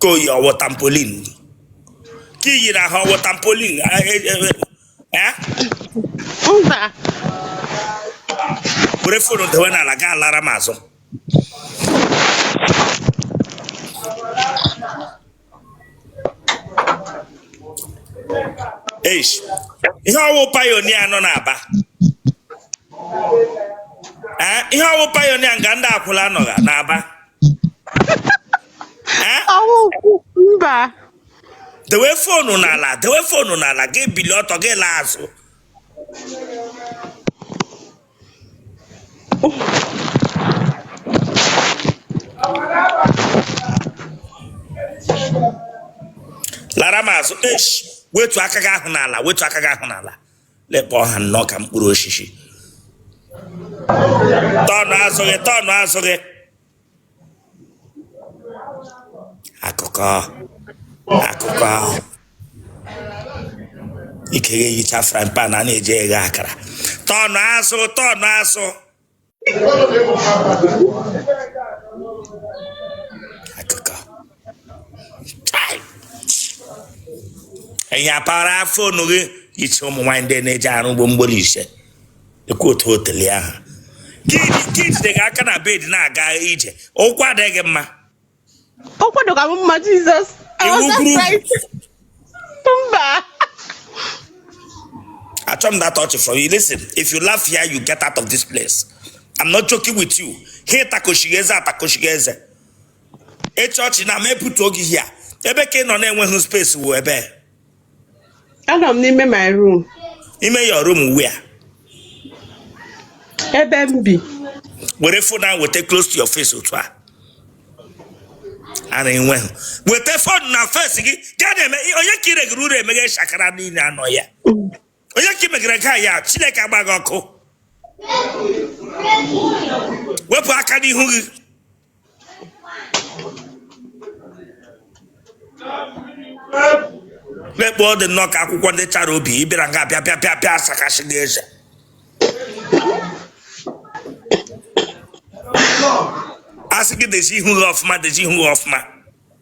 ka o yi ọ wụ tampolin ka iyi na ha ọ wụ tampolin eh, eh, eh, eh? mba were phone dewe n'ala gaa lara m azụ eish ihe ọ wụ pioneer nọ n'aba ee eh, ihe ọ wụ pioneer nga ndị akwụla nọgha n'aba ee eh? mba dewe phone n'ala dewe phone n'ala gị bilie ọtọ gị laa azụ lara m azụ eish wetu aka gị ahụ n'ala wetu aka gị ahụ n'ala lekpọ ha nnọọ ka mkpụrụ osisi tọnụ azụ gị tọnụ azụ gị akụkọ akụkọ ahụ ike ya eyicha frying pan a na-eji eghe akara tọnụ azụ tọnụ azụ akụkọ Chai! ị nyapara phone gị iche ụmụ nwaanyị ndị na-eji arụ ugbo mgbori ise ekwu otu otele ahụ ka e jide gị aka na bed na-aga ije ụkwụ adịghị mma ụkwụ dịkwa m mma Jesus mba achọ m that touch from you listen if you laugh here you get out of this place i'm not joking with you ha ịtakọchighị eze atakọchighị eze ịchọọchị na ma epụta oge here ebe ka ị nọ na-enweghị space wụ ebe Anọ m n'ime my room. Ime your room where? Ebe m bi. Were phone ahụ weta close to your face otu a. Ara enweghị. Weta phone na face gị. Gaa na-eme onye ka ire gị ruru emeghe shakara niile anọ ya. onye ka i megara nke a ya chineke agba gị ọkụ wepụ aka n'ihu gị lekpọ ọ dị nnọọ ka akwụkwọ ndị chara obi ị bịara nga bịa bịa bịa bịa asakashi gị eze asị gị dezi ihu gị ọfụma dezi ihu gị ọfụma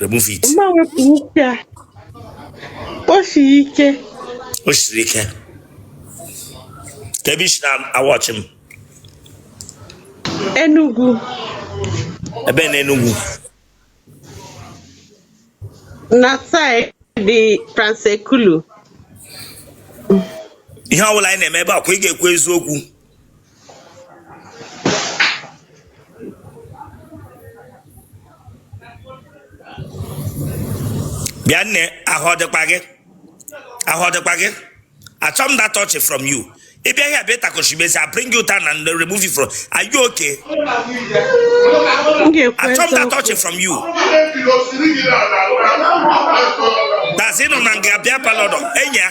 remove it mma wepụ ike a o siri ike o siri ike kee ebe i si na-awatch m Enugu ebe na Enugu na side Trans Ekulu ihe ọbụla anyị na-eme ebe a kwa ị ga-ekwu eziokwu bịa nne ahụ ọ dịkwa gị ahụ ọ dịkwa gị achọ m that touch from you ị bịa ihe bịa takoshi mesi I bring you down and remove you from are you okay achọ m that touch from you that's ị nọ na nga bịa palọdọ enyi ya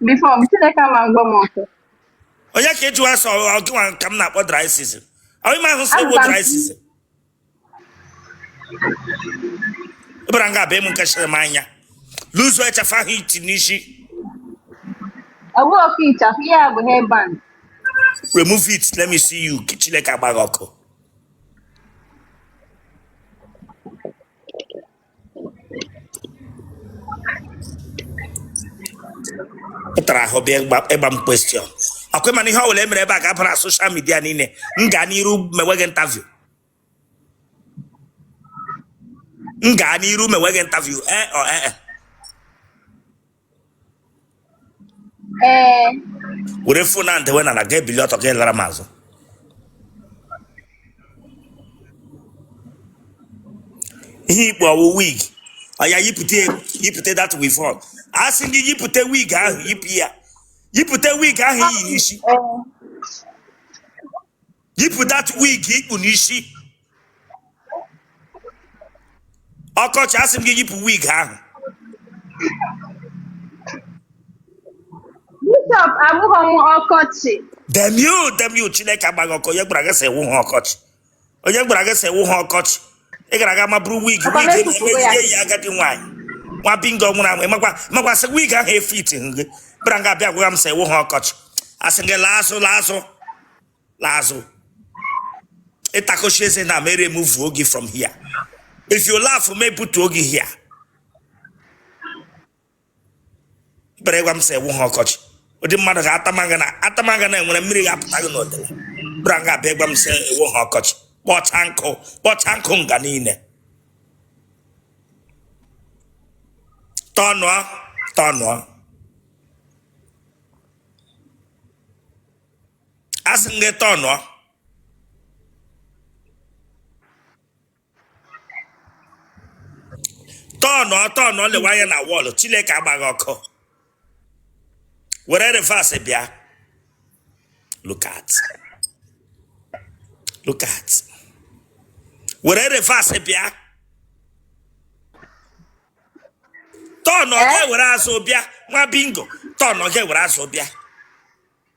before m chineke ama ngwa m ọsọ onye ka ịjụ asọ ọ gịnwa ka m na-akpọ dry season ọ ị mahụ sị ị wụ dry season ị bịara nga abịa m nke chịrị m anya loose ịchafụ ahụ i ti n'isi ọ wụhụkwa ịchafụ ihe a bụ headband remove it let me see you ka chineke agba gị ọkụ pụtara ahụ bịa ịgba m question ọkwa ị ma na ihe ọ bụla e mere ebe a ga-abara social media niile m gaa n'iru mewe gị interview m gaa n'iru mewe gị interview ee eh, ọ oh, ee eh, eh. ee were phone ahụ dewe n'ala gị ebili ọtọ gị alara m azụ ihe i kpu ọ wụ wig ọya yipụta yipụta that weavon a sị gị yipụta wig ahụ yipụ ya yipụta wig ahụ i yi n'isi ee yipụ that wig i kpu n'isi ọkọchị asị m gị yipụ wig ahụ Bishop abụghị m ọkọchị. damn you damn you chineke agba gị ọkụ onye gwara gị sị ị wụhụ ọkọchị onye gwara gị sị ị wụhụ ọkọchị ị gara aga mabụrụ wig Papa wig Meku kwuru ya. emeghị ya agadi nwaanyị nwa bingo nwụrụ anwụ ị makwa makwa sị wig ahụ efit gị bịara nga abịa gwara m sị ị wụhụ ọkọchị asị gị laa azụ laa azụ laa azụ ị takọchi eze na m e-remove-uo gị from here if you laugh m e-put-uo gị here bịara gwa m sị ị wụhụ ọkọchị ụdị mmadụ ga-atamaga na atamaga na enwere mmiri ga-apụta gị n'otele bịara nga abịa gwa m sị ị wụhụ ọkọchị kpọcha nkụ kpọcha nkụ nga niile tọnụọ tọnụọ asị m gị tọnụọ tọnụọ tọnụọ lewe anya na wall chineke agba gị ọkụ were reverse bịa look at look at were reverse bịa tọnụọ gị ewere azụ bịa nwa bingo tọnụọ gị ewere azụ bịa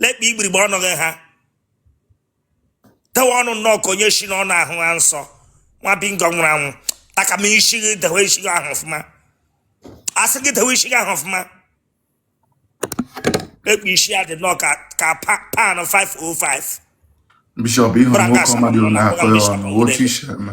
lekpa igbirigbe ọnụ gị ha dewe ọnụ nnọọ ka onye si n'ọnụ ahụa nsọ nwa bingo nwụrụ anwụ taka m isi gị dewe isi gị ahụ ọfụma asị gị dewe isi gị ahụ ọfụma lekpa isi ya dị nnọọ ka ka pa- pan 505 bishọp ị hụrụ nwoke ọma dị na-akọ ya ọnụ otu i si eme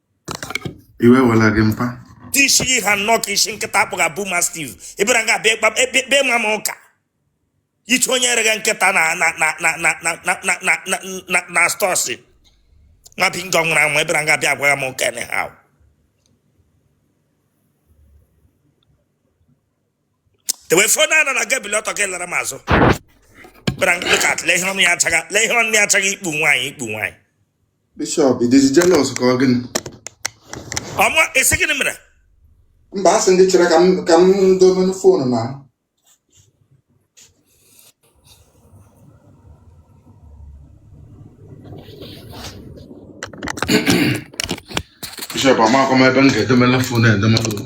iwe wela gị mpa tishiri ha nnọọ ka isi nkịta a kpọga bull mastiff ị bịara nga abịa ekpe ma m ụka ichi onye ereghị nkịta na stọọsị nwa bingo nwụrụ anwụ ị bịara nga abịa agwaga m ụka anyhow dewe foonu ana na gị bili ọtọ gị lara m azụ bịara nga look at lee ihe ọnụ ya achaga ikpu nwaanyị ikpu nwaanyị Bishọp, ị dịzi jealous ka ọ gịnị? ọ mụ esi gịnị mere Mba, asị m gị chere ka m ka m domenụ foonu na Bishọp, amakwa m ebe m ga-edomela foonu edomela o.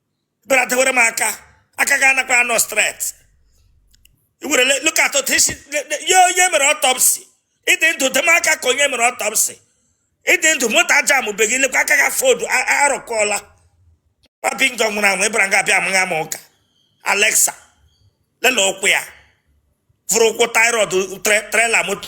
bịara dewere m aka aka gị anakwa anọ straight i were look at otu i si yie onye e mere autopsy ị dị ndụ dewe m aka ka onye e mere autopsy ị dị ndụ moto ajambeghị lekwa aka gị a fold arụkọọla nwa bingo nwụrụ anwụ ị bịara nga abịa amaga m ụka alexa lele ụkwụ ya vụrụ ụkwụ tie rod trailer moto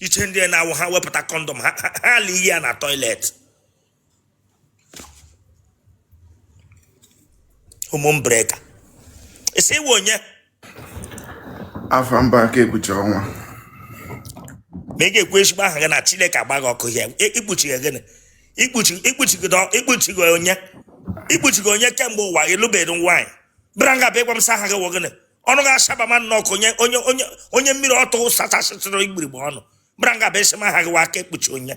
iche ndị na-awụ ha wepụta condom ha ala iyi ya na toilet home breaker ị sị ị wụ onye afa m bụ aka ekpuchi ọnwa ma ị ga-ekwu ezigbo aha gị na chineke agba gị ọkụ ya i kpuchiga gịnị i kpuchiga onye i kpuchiga onye kemgbe ụwa ị lụbeghị nwaanyị bịara nga bịa ịgwa m sị aha gị wụ gịnị ọnụ ga-asaba ma nnọọ ka onye mmiri ọtụ sachasịtụrụ igbirigbe ọnụ bịara nga bịa asị m aha gị wụ aka ekpuchi onye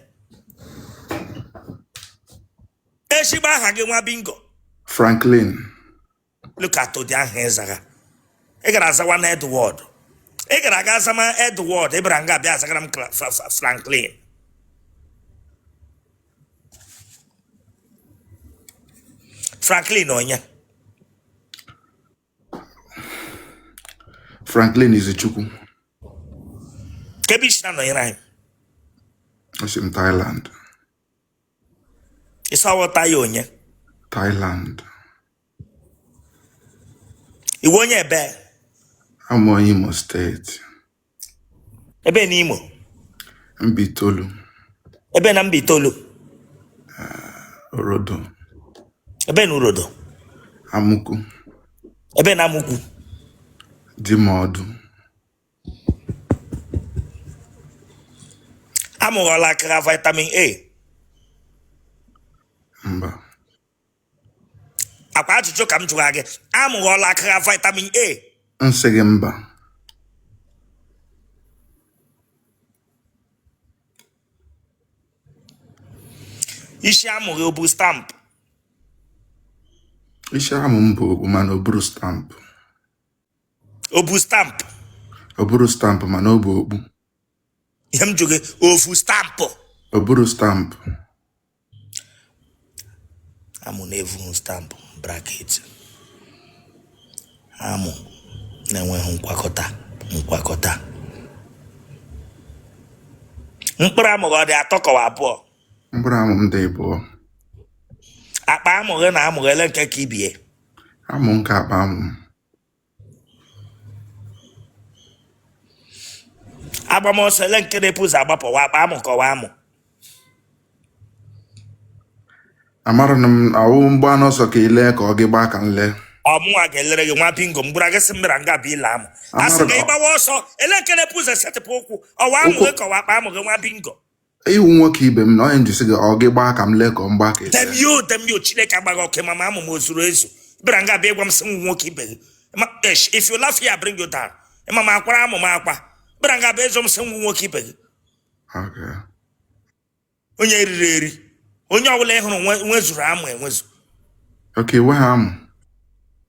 ezigbo aha gị nwa bingo Franklin look at ụdị aha ị zaga ị gara azawa na Edward ị gara aga azama Edward ị bịara nga abịa azagara m Cla- Fra- Fra- Franklin Franklin onye Franklin Izuchukwu kee ebe i si na-anọnyere anyị esi m Thailand ị sị ọ wụ Thai onye Thailand ị wụ onye ebe awụ m Imo steeti ebe na imo mbaitolu ebe na mbaitolu orodo ebe na orodo amụkwu ebe na amụkwu dimodu amụ gị ọ lackara vitamin a mba ọ kwa ajụjụ ka m jụrụ gị amụ gị ọ lackara vitamin a m sị gị mba isi amụ gị o bu stampụ isi amụ m bu okpu mana o buhu stampụ o bu stampụ o buhu stampụ mana o bu okpu ihe m jụrụ gị o vu stampụ o buhu stampụ amụ na-evughị stampụ braketị amụ na-enweghị nkwakọta nkwakọta mkpụrụ amụ gị ọ dị atọ ka ọ wụ abụọ mkpụrụ amụ m dị abụọ akpa amụ gị na amụ gị ele nke ka ibe ya amụ m ka akpa amụ m a gbawa ọsọ ele nke na-ebu ụzọ agbapụ ọ wụ akpa amụ ka ọ wụ amụ amara na m awụ m gbaa ọsọ ka i lee ka ọ gị gbaa ka m lee ọ mụnwa ga-elere gị nwa bingo m gwara gị sị m bịara nga bụ ile amụ a sị gị ị gbawa ọsọ ele nke na-ebu ụzọ esetịpụ ụkwụ ọ wụ amụ gị ka ọ wụ akpa amụ gị nwa bingo ị wụ nwoke ibe m na onye njisi gị ọ gị gbaa ka m lee ka ọ m gbaa ka damn you damn you chineke agbaa gị ọkụ ị ma ma amụ m o zuru ezu bịara nga bịa ịgwa m sị m wụ nwoke ibe gị if you laugh here I bring you down ị ma ma a kwara amụ m akwa bịara nga bịa ịzụ m sị m wụ nwoke ibe gị Okay. onye eriri eri onye ọbụla ị hụrụ nwe- nwezuru amụ enwezu oke iwe ha amụ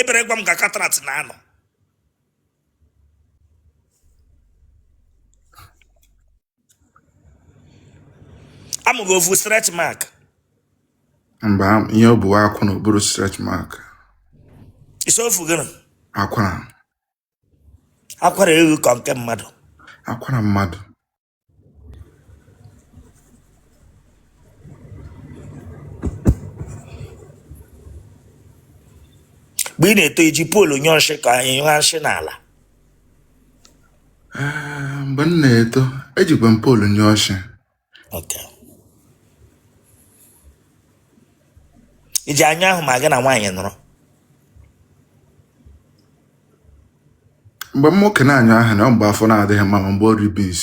ebere gwa m ka katrat na-anọ amụ gị o vu stretch mark mba ihe o bu akwara o buhu stretch mark ị sị o vu gịnị akwara akwara ewu ka nke mmadụ akwara mmadụ mgbe ị na-eto i ji poolu nyụọ nsị ka ị nyụrụ nsị n'ala Ah, mgbe m na-eto ejikwa m poolu nyụọ nsị Okay. i ji anya ahụ ma gị na nwaanyị nọrọ mgbe nwoke na-anyụ ahụ na mgbe afọ na-adịghị mma ma mgbe o riri beans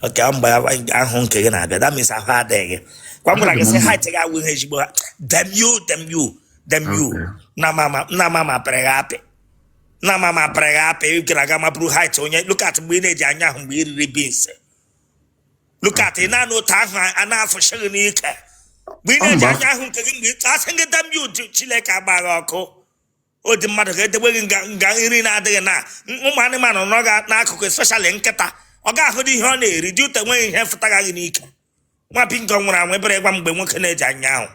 okay mgbe ahụ nke gị na-abịa that means ahụ adịghị kwa m gwara gị sị height gị awụghị ezigbo ha dem you dem you dem you na mama na mama pịrị gị apị na mama pịrị gị apị ị gara aga maburu height onye look at mgbe ị na-eji anyụ ahụ mgbe ị riri beans look at ị na-anụ otu ahụ a na-afụsị gị n'ike mgbe ị na-eji anyụ ahụ nke gị mgbe ị a sị gị damn you chineke agba gị ọkụ ọ dị mmadụ ka e debe gị nga nga nri na-adịghị na ụmụ anụmanụ nọ ga n'akụkụ especially nkịta ọ ga-ahụ dị ihe ọ na-eri dị ụtọ enweghị ihe fụtara gị n'ike nwa bingo nwụrụ anwụ ebere gwa mgbe nwoke na-eji anyụ ahụ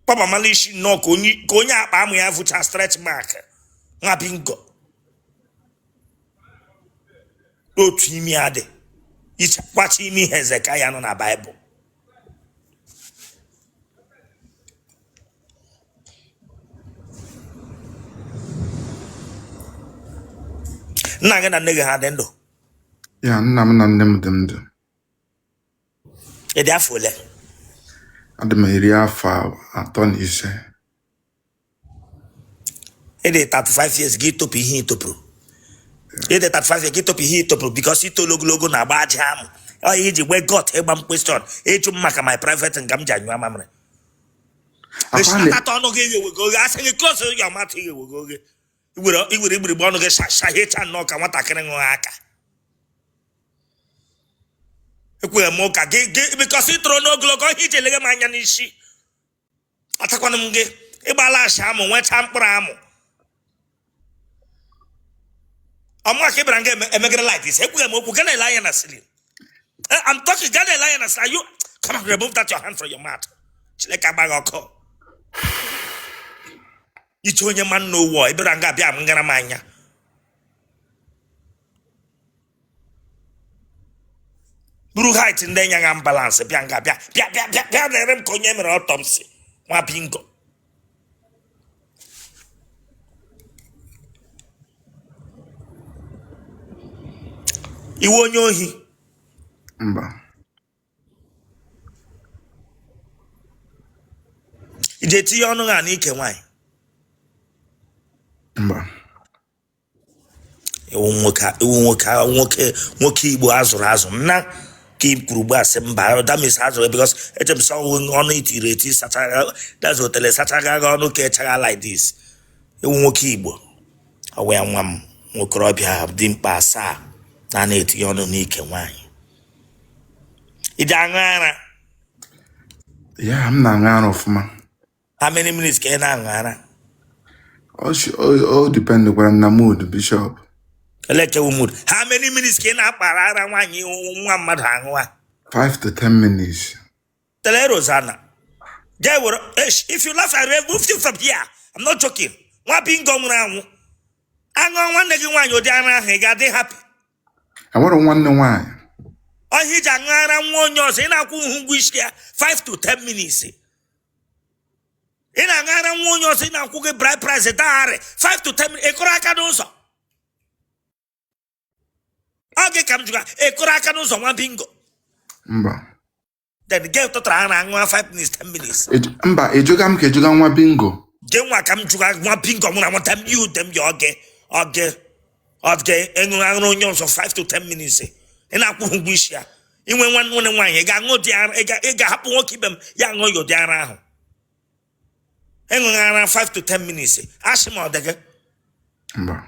kpọbamala isi nnọọ ka onye ka onye akpa amụ ya vucha stretch mark nwa bingo otu imi ya dị ichekwacha imi hezekaya nọ na baịbụl nna gị na nne gị ha dị ndụ ya nna m na nne m dị ndụ ị dị afọ ole adị m iri afọ atọ na ise ị dị 35 years gị topụ ihe i topụrụ ị dị 35 years gị topụ ihe i topụrụ because i tolu ogologo na-agba aja amụ ọ ihe i ji nwee guts ịgba m question ịjụ m maka my private nga m ji anyụ amamịrị Apparently- echitata ọnụ gị eghewego oghe a sị gị close your mouth i ghewego oghe i were i were igbirigbe ọnụ gị shahicha nnọọ ka nwatakịrị ṅụọ aka ekwere m ụka gị gị because i toro n'ogologo ihe i ji eleghe m anya n'isi atakwana m gị ịgbala asị amụ nweta mkpụrụ amụ ọ mụwa ka ị bịara nga emegere light isi ekwughe m okwu gị ana-ele anya na ceiling eh, I'm talking gị ana-ele anya na ceiling you come on remove that your hand from your mouth chineke agba gị ọkụ i che onye ma nna ọ wụ ị bịara nga bịa m ngara m anya buru height ndị nya ha imbalance bịa nga bịa na-ele m ka onye mere autopsy nwa bingo ị wụ onye ohi mba i ji etinye ọnụ ha n'ike nwaanyị ị wụ nwoke ị wụ nwoke nwoke nwoke igbo a zụrụ azụ nna ka i kwuru gba asị mba that means a zụrụ because eche m sọ ọnụ i tiri eti sachara that is otele sachara gị ọnụ ka ọ chara like this ị wụ nwoke igbo ọwa ya nwa m nwa okorobịa dimkpa asaa na na-etinye ọnụ n'ike nwaanyị ị ji aṅụ ara yeah m na-aṅụ ara ọfụma how many minutes ka ị na-aṅụ ara o shi- o- o dipendịkwara m na mood bishọp lekwa mood how many minutes ka ị na-akpara ara nwaanyị nwa mmadụ aṅụwa 5 to 10 minutes tell Rosanna jee were esh if you laugh I remove you from here I'm not joking nwa bingo nwụrụ anwụ a ṅụọ nwanne gị nwaanyị ụdị ara ahụ ị ga-adị happy i nwere nwanne nwaanyị ọ ihe i ji aṅụ ara nwa onye ọzọ ị na-akwụhụ ụgwọ isi ya 5 to 10 minutes ị na-aṅụ ara nwa onye ọzọ ị na-akwụghị bride price dagharị 5 to 10 minutes ị kụrụ aka n'ụzọ ọ gị ka m jụga ị kụrụ aka n'ụzọ nwa bingo mba then gee tụtara ha na aṅụa 5 minutes 10 minutes Ej- mba ị jụga m ka ị jụga nwa bingo gị nwa ka m jụga nwa bingo mụ na nwata m yi ude m ya okay okay okay ị ṅụrụ ara onye ọzọ 5 to 10 minutes ị na-akwụghị ụgwọ isi ya i nwee nwanne nwaanyị ị ga-aṅụ ụdị ara ị ga- ị ga-ahapụ nwoke ibe m ya aṅụọ ya ụdị ara ahụ ị ṅụghị ara 5 to 10 minutes asị m ọ dị gị mba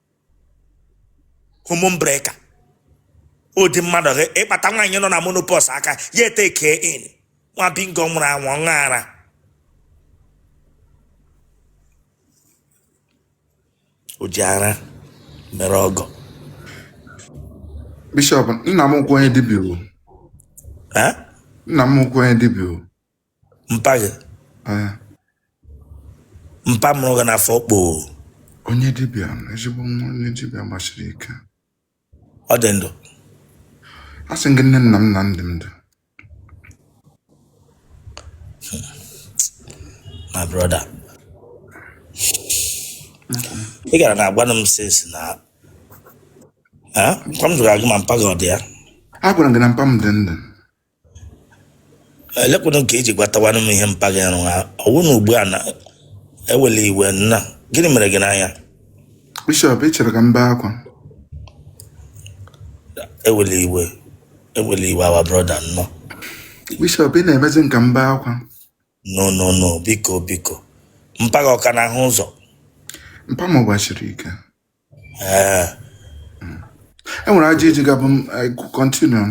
hormone breaker ụdị mmadụ ị kpata nwaanyị nọ na menopause aka ya etake in nwa bingo nwụrụ anwụ ọṅụ ara o ji ara mere ọgwụ bishọp nna m wụkwa onye dibịa o Eh? nna m wụkwa onye dibịa o mpa gị Ee, mpa mụrụ gị n'afọ kpoo onye dibịa ezigbo onye dibịa gbasiri ike ọ dị ndụ a sị gị nne nna m na dị ndụ my brother ị gara na-agwanụ m since na Eh, mpa m jụrụ gị ma mpa gị ọ dị ya agwara m gị na mpa m dị ndụ elekwanụ nke i ji gwatawanụ m ihe mpa gị arụ ha ọ wụ na ugbu a na ewele iwe nna gịnị mere gị n'anya bishọp ị chọrọ ka m bee akwa ewele iwe ewele iwe our brother nnọ bishọp ị na-emezi m ka m bee akwa no no no biko biko mpa gị ọ ka na-ahụ ụzọ mpa m gbasiri ike ee e nwere ajụjụ ị ga-ajụ m continue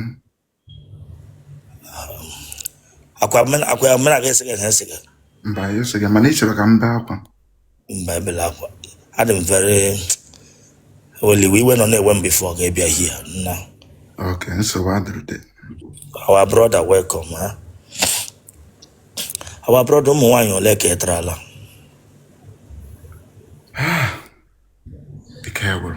akwa mena- akwa ya mena ga-ese gị ese gị mba ya sị gị mana ị chọrọ ka m bee akwa mba ebela akwa adị m very well iwe nọ na-ewe m before ga-abịa here now ok nsogbu adịrị our brother welcome ha our brother ụmụ nwaanyị ole ka ị tarala ike gwụrụ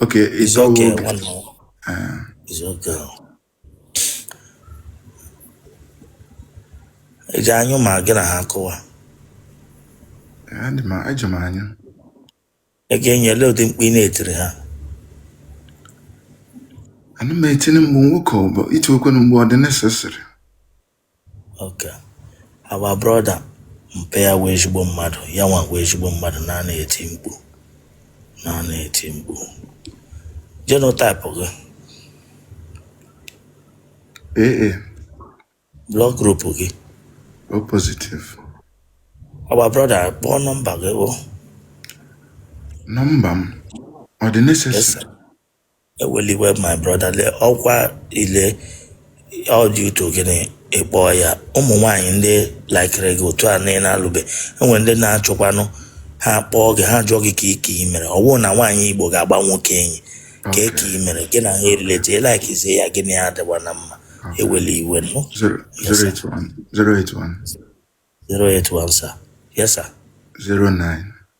Okay, it's It's okay, okay. one more. Uh, It's okay. Ị ji anyụ ma gị na ha kụwa. Eji m anyụ. Ị ga-enyele ụdị mkpu ị na-etiri ha. Ana m etinye mgbe nwoke ọ bụ iti okwe na mgbe ọ dị necessary. Okay. Our brother mpa ya wụ ezigbo mmadụ ya nwa wụ ezigbo mmadụ na na-eti mkpu na na-eti mkpu genotype gị AA blood group gị O positive. our brother kpọọ nọmba gị o Nọmba m ọ dị necessary? yes sir. ewele iwe my brother le ọkwa ile ọ dị uto gịnị ị kpọ ya ụmụ nwaanyị ndị laikere gị otu a na ị na-alụbe enwere ndị na-achọkwanụ ha kpọọ gị ha jụọ gị ka ike i mere ọ bụ na nwaanyị igbo ga-agba nwoke enyi ka eke i mere gị na ha erilete ịlaikizie ya gịnị ya adịwa na mma ewele iwe nụ Zero, Yes, sir. 081 081 081 sir yes sir 09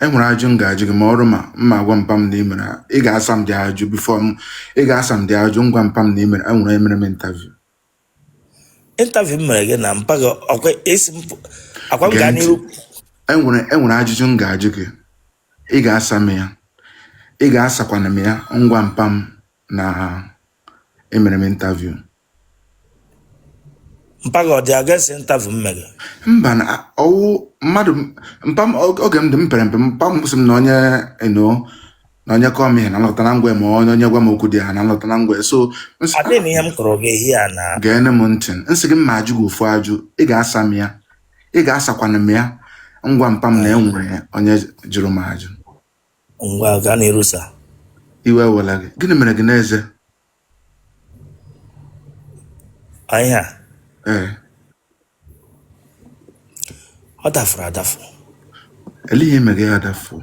e nwere ajụ m ga-ajụ gị ma ọrụ ma m ma-agwa mpa m na ị mere ị ga-asa m the ajụ before m ị ga-asa m the ajụ m gwa mpa m na ị mere e nwere emere m interview interview m mere gị na mpa gị ọkwa esi m akwa m gaa n'iru e nwere e nwere ajụjụ m ga-ajụ gị ị ga-asa m ya ị ga-asakwana m ya m gwa mpa m na emere m interview mpa gị ọ dị against interview m mere mba na ọ wụ mmadụ mpa m og- oge m dị m pere mpe mpa m sị m na onye eno na onye kọọ m ihe na m lọta na m gwa ma onye onye gwa m okwu dị ha na m lọta na m gwa so m sị, adịghị m ihe m kọrọ gị ehi a na geenụ m ntị m sị gị m ma-ajụ gị ofu ajụ ị ga-asa m ya ị ga-asakwana m ya m gwa mpa m na e nwere onye jụrụ m ajụ ngwa gaa n'iru sir iwe ewela gị gịnị mere gị n'eze ihe a ee ọ dafụrụ adafụ ele ihe mere ya adafuo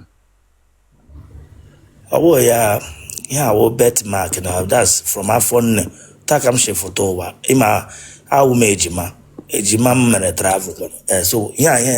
ọ bụghị ya ihe a wụ birthmark na that's from afọ nne taa ka m si fụta ụwa ị ma awụ m ejima ejima m mere travel eh, so ihe a ihe